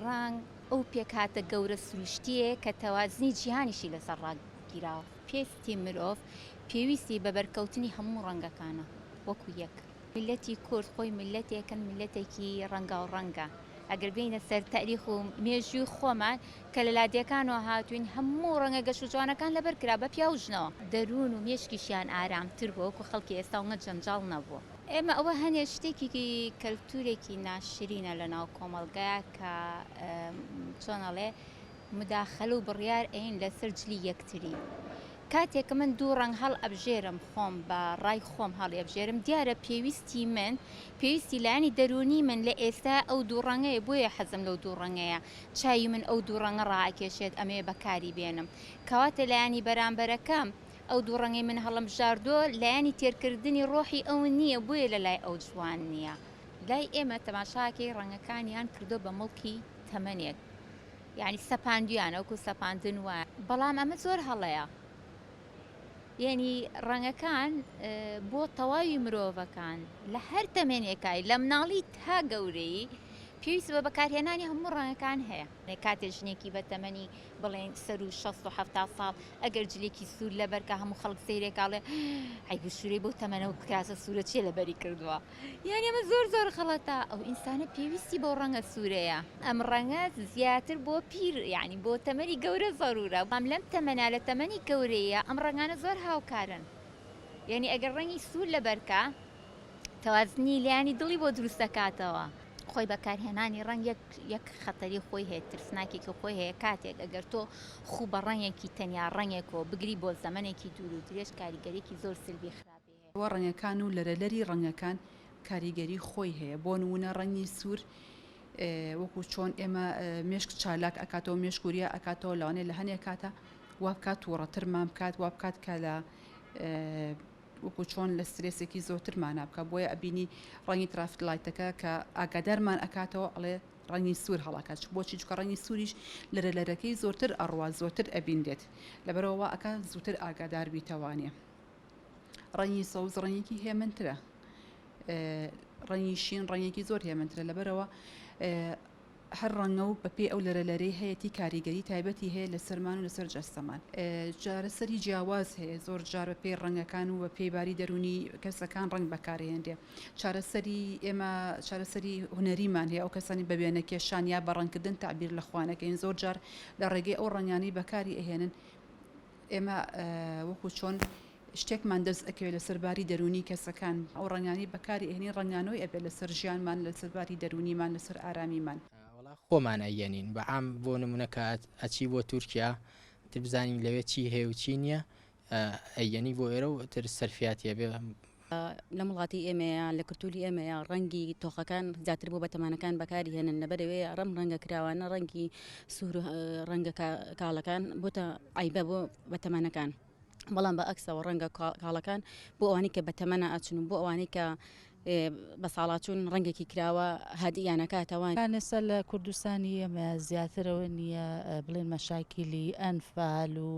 ڕانگ ئەو پێکهاتە گەورە سروشتیەیە کە تەوازنی جیهانیشی لەسەر ڕاگیراوە پێستی مرۆڤ پێویستی بە بەرکەوتنی هەموو ڕەنگەکانە وەکو یەک میلەتی کورد خۆی میلەتێکن میلەتێکی ڕەنگا و ڕەنگە ئەگەر بینە سەر تاریخ و مێژووی خۆمان کە لە لادێکانەوە هاتوین هەموو ڕەنگە گەش و جوانەکان لەبەر کرا بە پیاوژنەوە دەروون و مێشکیشیان ئارامتر بۆ وەکو خەڵکی ئێستا ومە جەنجاڵ نەبوو. ئێمە ئەوە هەنێ شتێکی کەلتورێکی ناشرینە لە ناو کۆمەڵگەیە کە چۆن ئەڵێ مداخەل و بڕیار ئەین لەسەر جلی یەکتری کاتێک من دوو ڕنگ هەڵ ئەبژێرم خۆم بە ڕای خۆم هەڵ ئەبژێرم دیارە پێویستی من پێویستی لایانی دەرونی من لە ئێستا ئەو دوو ڕەنگەیە بۆیە حەزم لەو دوو ڕەنگەیە چاوی من ئەو دوو ڕەنگە ڕاکێشێت ئەمەیە بەکاری بێنم کەواتە لایانی بەرامبەرەکەم ئەو دوو ڕەنگەی من هەڵمبژاردووە لایەنی تێرکردنی ڕۆحی ئەون نییە بۆیە لە لای ئەو جوان نییە. لای ئێمە تەماشاکەی ڕەنگەکانیان کردووە بە مڵکی تەمەنێک یانی سەپاندویانە وەکو سەپاندن وایە بەڵام ئەمە زۆر هەڵەیە یانی ڕەنگەکان بۆ تەواوی مرۆڤەکان لە هەر تەمێنێکای لە مناڵی تا گەورەی پێویست بە بەکارهێنانی هەموو ڕەنگەکان هەیە کاتێ ژنێکی بە تەمەنی بڵێن سەروو شەست و حەفتا ساڵ ئەگەر جلێکی سوور لەبەر کە هەموو خەڵک سەیرێکا بڵێ عەیب و شوورەی بەو تەمەنە و کراسە سوورە چییە لەبەری کردووە یان ئەمە زۆر زۆر غەڵەتە ئەو ئینسانە پێویستی بەو ڕەنگە سوورەیە ئەم ڕەنگە زیاتر بۆ پیر یانی بۆ تەمەنی گەورە زەروورە بەڵام لەم تەمەنا لە تەمەنی گەورەییا ئەم ڕەنگانە زۆر هاوکارن یانی ئەگەر ڕەنگی سوور لەبەر کا تەوازنی لانی دڵی بۆ دروست دەکاتەوە. خۆی بەکارهێنانی ڕەنگ یەک یەک خەتەری خۆی هەیە ترسناکێکی خۆی هەیە کاتێک ئەگەر تۆ خوو بە ڕەنگێکی تەنیا ڕەنگێکەوە بگری بۆ زەمەنێکی دوور و درێژ کاریگەریکی زۆر سلبی خراپی هەیە. بۆ ڕەنگەکان و لەرەلەری ڕەنگەکان کاریگەری خۆی هەیە بۆ نمونە ڕەنگی سوور وەکو چۆن ئێمە مێشک چالاک ئەکاتەوە مێشک وریا ئەکاتەوە لەوانێ لە هەنێ کاتە وابکات تووڕەترمان بکات وابکات کە لە وەکو چۆن لە سترێسێکی زۆتر مانا بکا بۆیە ئەبینی ڕەنگی ترافیک لایتەکە کە ئاگادارمان ئەکاتەوە ئەڵێ ڕەنگی سوور هەڵاکات چ بۆچی چکە ڕەنگی سووریش لەرە لەرەکەی زۆرتر ئەڕوا زۆرتر ئەبینرێت لەبەرەوە وا ئەکا زووتر ئاگادار بیتەوانێ ڕەنگی سەوز ڕەنگێکی هێمنترە ڕەنگی شین ڕەنگێکی زۆر هێمنترە لەبەرەوە هەر ڕەنگە و بەپێی ئەو لەرە لەرەی هەیەتی کاریگەری تایبەتی هەیە لەسەرمان و لەسەر جەستەمان چارەسەری جیاواز هەیە زۆر جار بە پێی ڕەنگەکان و بە پێی باری دەرونی کەسەکان ڕەنگ بەکارهێنرێ چارەسەری ئێمە چارەسەری هونەریمان هەیە ئەو کەسانی بە وێنە کێشان یا بە ڕەنگکردن تەعبیر لە خوانەکەین زۆر جار لە ڕێگەی ئەو ڕەنگانەی بەکاری ئەهێنن ئێمە وەکو چۆن شتێکمان دەست ئەکەوێت لەسەر باری دەرونی کەسەکان ئەو ڕەنگانی بەکاری ئەهێنین ڕەنگانەوەی ئەبێت لەسەر ژیانمان لەسەر باری دەرونیمان لەسەر ئارامیمان. وەڵا خۆمان ئەیەنین بە عام بۆ نمونە کە ئەچی بۆ تورکیا ئیتر بزانین لەوێ چی هەیە و چی نییە ئەیەنی بۆ ئێرە و ئیتر سەرفیاتی ئەبێ لەم وڵاتی ئێمەیە لە کلتوری ئێمەیە ڕەنگی تۆخەکان زیاتر بۆ بەتەمانەکان بەکاری هێنن لەبەرەوەی ڕەم ڕەنگە کراوانە ڕەنگی سوور ڕەنگە کاڵەکان بۆتە ئایبە بۆ بەتەمانەکان بەڵام بە ئەکسەوە ڕەنگە کاڵەکان بۆ ئەوانی کە بەتەمەە ئاچن و بۆ ئەوانی کە بە ساڵاچوون ڕەنگێکی کراوە هادیانەکاتەوان لەسە لە کوردستانی ئێمە زیاترەوە نییە بڵێن مەشاکیلی ئەنفال و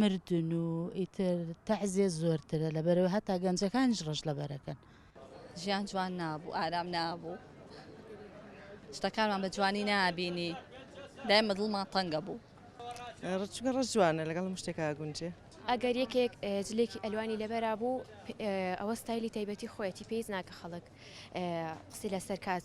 مردن و ئیتر تەعزێ زۆرترە لەبەرەوە هەتا گەنجەکانیش ڕەش لەبەرەکەن. ژیان جوان نابوو ئارام نابوو شتەکانمان بە جوانی نابینی دایمە دڵمان تەنگە بوو ڕچگە ڕەش جوانە لەگەڵ مشتێکا گونجێ ئەگەر یەکێک جلێکی ئەلوانی لەبەرا بوو ئەوە ستایلی تایبەتی خۆیەتی پێیز ناکە خەڵک قسی لەسەر کات